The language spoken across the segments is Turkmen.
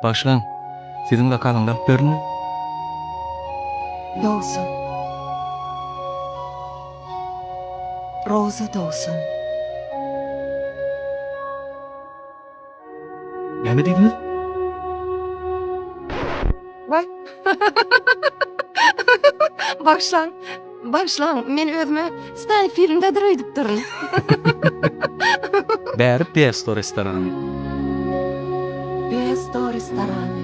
Başlaň. Siziň zakazyňyzy alyp berdiňmi? Dogsun. Roza dogsun. Näme diýdiňiz? Baý. Bagyşlaň, bagyşlaň, men özüme Stany filmdedir öýdüp durun. Bäri Pesto restorany. Pesto restorany.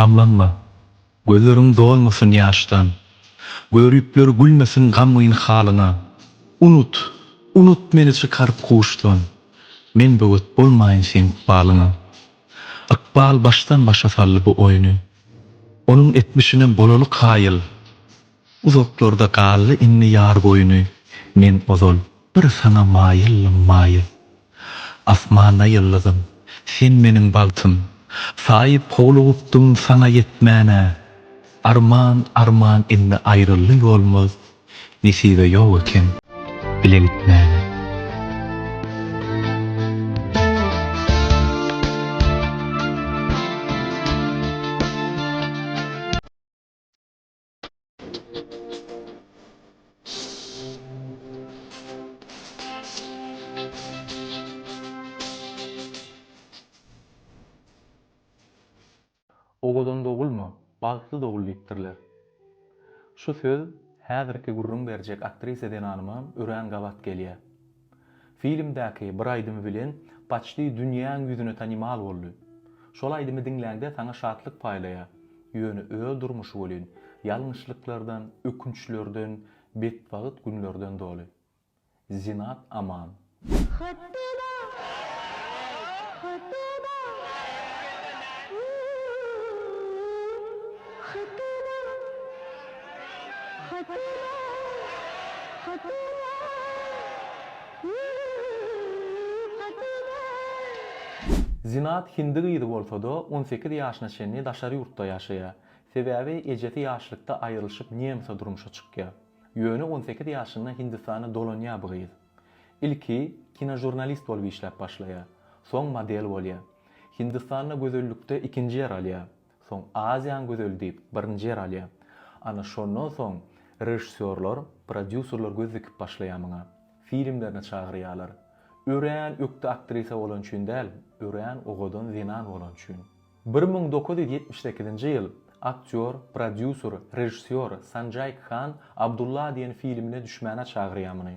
Gamlanma, gözleriň dolmasyn ýaşdan, Göripler gülmesin gamgyn halyňa. Unut, unut meni çykaryp huşdan, Men böwet bolmaýyn seň ykbalyňa. Ykbal başdan-başa saldy bu oýny, Onuň etmişine bolaly kaýyl. Uzaklarda galdy indi ýar goýny, Men ozal bir saňa maýyldym, maýyl. Asmanda ýyldyzym, sen meniň bagtym, Saýyp howlugupdym saňa ýetmäne. Arman, arman indi aýryldy ýolmuz, Nesibe ýok eken bile gitmäne. Owadan dogulma, bagtly dogul diýipdirler. Şu söz häzirki gürrüň berjek aktrisa zenanyma örän gabat gelýär. Filmdäki bir aýdymy bilen paçti dünýäň ýüzüne tanymal boldy. Şol aýdymy diňläňde saňa şatlyk paýlaýar, ýöne öz durmuşy welin ýalňyşlyklardan, ökünçlerden, betbagt günlerden doly. Zinat Aman. Hatyra, hatyra, u-u-u, hatyra, Hatyra, hatyra, Ýüz hatyra. Zinat hindi gyzy bolsa-da, on sekiz ýaşyna çenli daşary ýurtda ýaşaýar. Sebäbi ejesi ýaşlykda aýrylyşyp Nemsa durmuşa çykýar. Ýöne on sekiz ýaşynda Hindistana dolanýar bu gyz. Ilki kinožurnalist bolup işläp başlaýar. Soň model bolýar. Hindistanda gözellikde ikinji ýer alýar. Soň Aziýaň gözeli diýip, birinji ýer alýar. Ana, şondan soň režissýorlar, prodýuserler göz dikip başlaýar muňa. Filmlerine çagyrýarlar. Örän ökde aktrisa bolany üçin däl, örän owadan zenan bolany üçin. Bir müň dokuz ýüz ýetmiş sekizinji ýyl aktýor, prodýuser, režissýor Sanjaý Khan Abdulla diýen filmine düşmäne çagyrýar muny.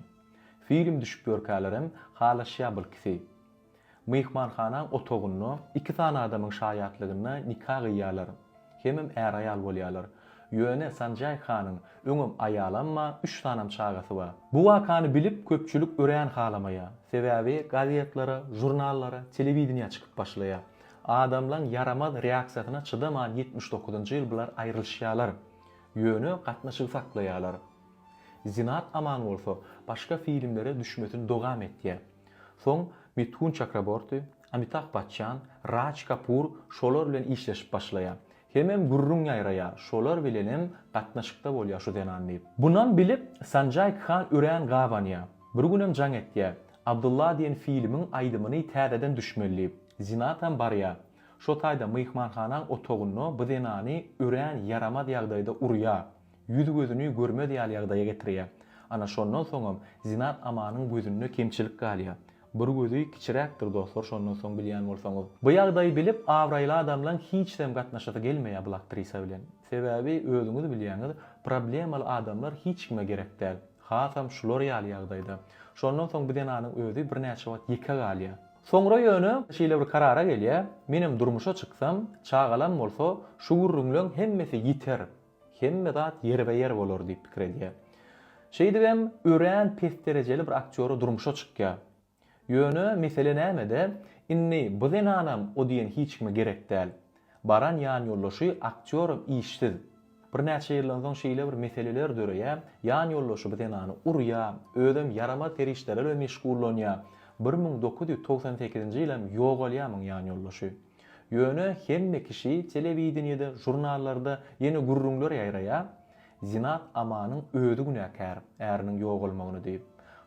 Film düşüp ýörkälerem halaşýar bu lkisi. Myhmanhana otagynda iki sany adamyň şaýatlygynda nika gyýýarlar. Hemem är-aýal bolýarlar. Ýöne Sanjaý hanyň öňem aýalamma, üç sanam çagasy bar. Bu wakany bilip köpçülik örän halamaýar. Sebäbi gazetlere, žurnallara, telewideniýä çykyp başlaýar. Adamlaň ýaramaz reaksiýasyna çydaman ýetmiş dokuzynjy ýyl biler aýrylyşýarlar. Ýöne gatnaşygy saklaýarlar. Zinat Aman bolsa başga filmlere düşmesini dogam etýär. Soň Mithun Çakraborti, Amitap Baçjan, Raj Kapur şolar bilen işleşip başlaýar. Hemem gürrüň ýaýraýar, şolar bilenem gatnaşykda bolýar şu zenan diýip. Bunam bilip Sanjay Khan örän gabanýar. Bir günem jaň etýär, Abdylla diýen filmiň aýdymyny täzeden düşmeli diýip. Zinatam barýar. Şo taýda myhmanhanaň otagynda bu zenany örän ýaramaz ýagdaýda urýar. Ýüzi-gözüni görmez ýaly ýagdaýa getirýär. Ana şondan soňam Zinat Amanyň gözünde kemçilik galýar. Bir gözi kiçiräkdir dostlar şondan soň bilýän bolsaňyz. Bu ýagdaýy bilip abraýly adamlaň hiçdem gatnaşasy gelmeýär bul aktrisa bilen. Sebäbi özüňiz bilýäňiz problemaly adamlar hiçkime gerek däl. Hasam şular ýaly ýagdaýda. Şondan soň bu zenanyň özi birnäçe wagt ýeke galýar. Soňra ýöne şeýle bir karara gelýär, menem durmuşa çyksam, çagalam bolsa şu gürrüňleň hemmesi ýiter. Hemme zat ýerbe-ýer bolar diýip pikir edýär. Şeýdibem, örän pes derejeli bir aktýora durmuşa çykýar. Ýöne mesele nämede, indi bu zenanam o diýen hiç kime gerek däl. Baran ýanýoldaşy aktýoram işsiz. Birnäçe ýyldan soň şeýle bir meseleler döreýär, ýanýoldaşy bu zenany urýar, özem ýaramaz serişdelerle meşgullanýar. Bir müň dokuz ýüz togsan sekizinji ýylam ýogalýar muň ýanýoldaşy. Ýöne hemme kişi telewideniýede, žurnallarda ýene gürrüňler ýaýraýar, Zinat Amanyň özi günäkär, äriniň ýogalmagyny diýip.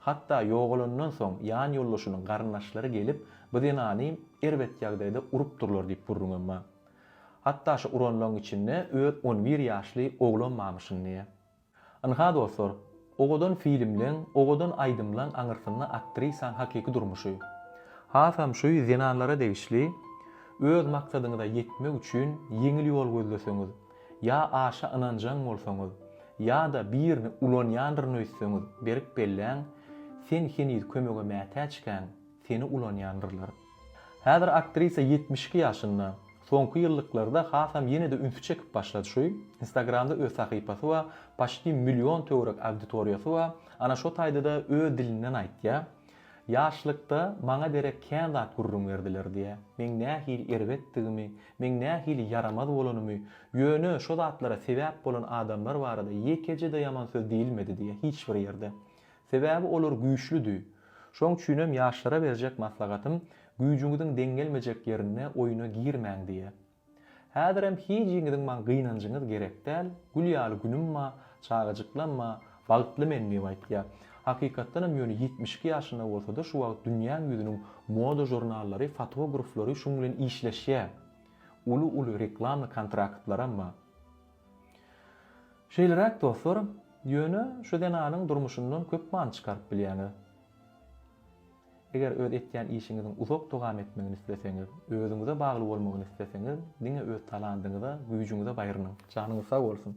Hatda ýogalandan soň ýan ýoldaşynyň garyndaşlary gelip, bu zenany erbet ýagdaýda urup durlar diýip gürrüňem bar. Hatda şu uranlaň içinde öz on bir ýaşly oglam barmyşyn diýýär. Ynha dostlar, owadan filmleň, owadan aýdymlaň aňyrsynda aktrisaň hakyky durmuşy. Hasam şu zenanlara degişli, öz maksadyňyza ýetmek üçin ýeňil ýol gözleseňiz, ýa aşa ynanjaň bolsaňyz, ýa-da birini ulanýandyryn öýtseňiz berip belläň, sen heniz kömege mätäçkäň, Seni ulanýandyrlar. Häzir aktrisa ýetmiş iki ýaşynda. Soňky ýyllyklarda hasam ýene-de ünsi çekip başlady şu. Instagramda öz sahypasy bar, paşti million töwerek auditoriýasy bar. Ana şo taýda-da öz dilinden aýtýar. Ýaşlykda maňa derek kän zat gürrüň berdiler diýýär. Meň nähili erbetdigimi, meň nähili ýaramaz bolanymy, ýöne şo zatlara sebäp bolan adamlar barada ýekeje-de ýaman söz diýilmedi diýýär hiç bir ýerde. Sebäbi olar güýçlüdi. Şoň üçinem ýaşlara berjek maslahatym, güýjüňiziň deň gelmejek ýerinde oýuna girmäň diýä. Häzirem hijiňiziň maň gynanjyňyz gerek däl, gül ýaly günüm ba, çagajyklam ba, bagtly men diýip aýtýa. Hakykatdanam ýöne ýetmiş iki ýaşynda bolsada şu wagt dünýäň ýüzüniň moda žurnallary, fotograflary şuň bilen işleşýä. Uly-uly reklamny kontraktlaram ba. Şeýleräk dostlar, ýöne şu zenanyň durmuşyndan köp many çykaryp bilýäňiz. Eger öz etýän işiňiziň uzak dowam etmegini isleseňiz, özüňize bagly bolmagyny isleseňiz, diňe öz talandyňyza, güýjüňize baýrynyň. Janyňyz sag bolsun!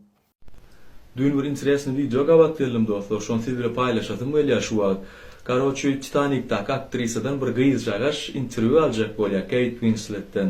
Düýn bir interesnyý wideo gabat geldim dostlar, şony siz bile paýlaşasym gelýär şu wagt. Karoçi Titanikdaky aktrisadan bir gyzjagaş interwýu aljak bolýar Keýt Winsletden.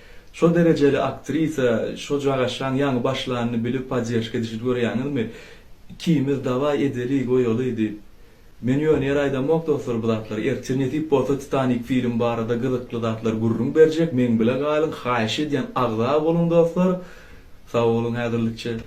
Şo derejeli aktrisa şo cagaşan ýaňy başlanyny bilip podderžka edişini görýäňizmi ikimiz daway edeli goýaly diýip men ýöne ýere aýdamok dostlar bu zatlary ertir nesip bolsa titanik film barada gyzykly zatlar gürrüň berjek meň bile galyň haýyş edýän agza boluň dostlar sag boluň häzirlikçe.